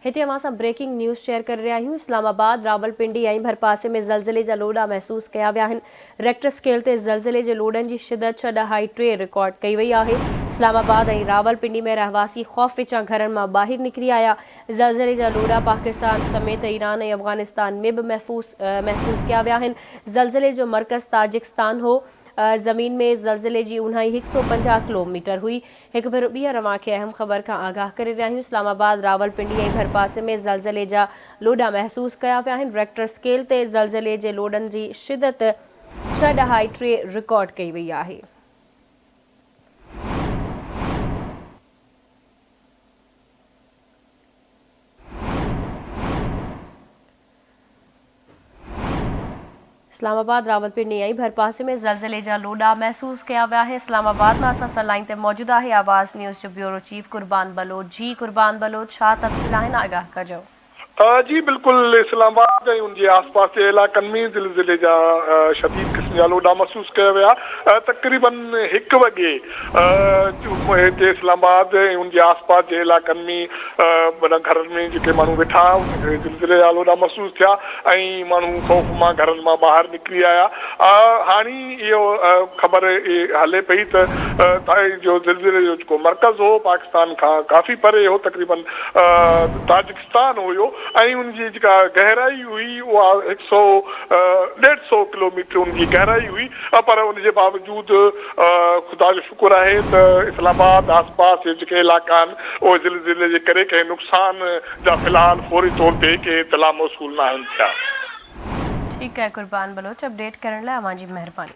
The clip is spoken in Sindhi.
هتي اوهان سان بريڪنگ نيوز شيئر ڪري رهيا آهيون اسلام آباد، راولپنڊي ۽ ڀرپاسي ۾ زلزلي جا لوڏا محسوس ڪيا ويا آهن، ريڪٽر اسڪيل تي زلزلي جي لوڏن جي شدت ڇهه ڏهائي ٽي رڪارڊ ڪئي وئي آهي، اسلام آباد ۽ راولپنڊي ۾ رهواسي خوف وچان گهرن مان ٻاهر نڪري آيا، زلزلي جا لوڏا پاڪستان سميت ايران ۽ افغانستان ۾ به محسوس ڪيا ويا آهن، زلزلي جو مرڪز تاجڪستان هو، زمين ۾ زلزلي جي اونهائي هڪ سؤ پنجاهه ڪلو ميٽر هئي. هڪ ڀيرو ٻيهر اوهان کي اهم خبر کان آگاهه ڪري رهيا آهيون اسلام آباد، راولپنڊي ۽ ڀرپاسي ۾ زلزلي جا لوڏا محسوس ڪيا ويا آهن، ريڪٽر اسڪيل تي زلزلي جي لوڏن جي شدت ڇهه ڏهائي ٽي رڪارڊ ڪئي وئي آهي. اسلام آباد، راولپني ۽ ڀرپاسي ۾ زلزلي جا لوڏا محسوس ڪيا ويا آهن اسلام آباد مان اسان سان لائين تي موجود آهي آواز نيوز جو بيورو چيف قربان بلوچ جي قربان بلوچ ڇا تفصيل آهن آگاهه ڪجو. جي بلڪل اسلام آباد ۽ ان جي آس پاس جي علائقن ۾ زلزلي جا شديد قسم جا لوڏا محسوس ڪيا ويا تقريبن هڪ وڳي هتي اسلام آباد ۽ ان جي آس پاس جي علائقن ۾ معنيٰ گهرن ۾ جيڪي ماڻهو ويٺا ها انهن کي زلزليال هوڏا محسوس ٿيا ۽ ماڻهو خوف مان گهرن مان ٻاهر نڪري آيا. هاڻي اهو خبر هلي پئي ته تائي جو زلزلي جو جيڪو مرڪز هو پاڪستان کان ڪافي پري هو تقريبن تاجڪستان هيو ۽ ان جي جيڪا گهرائي هئي اها هڪ سئو ڏيڍ سئو ڪلوميٽر ان جي گهرائي هئي پر ان جي باوجود خدا جو شڪر آهي ته اسلام آباد آس پاس جي جيڪي علائقا آهن اهي زلزلي جي ڪري ڪنهن نقصان جا في الحال فوري طور تي ڪي اطلاع موصول ناهن ٿيا. ٺيڪ آهي قربان بلوچ اپڊيٽ ڪرڻ لاء اوهان جي مهرباني.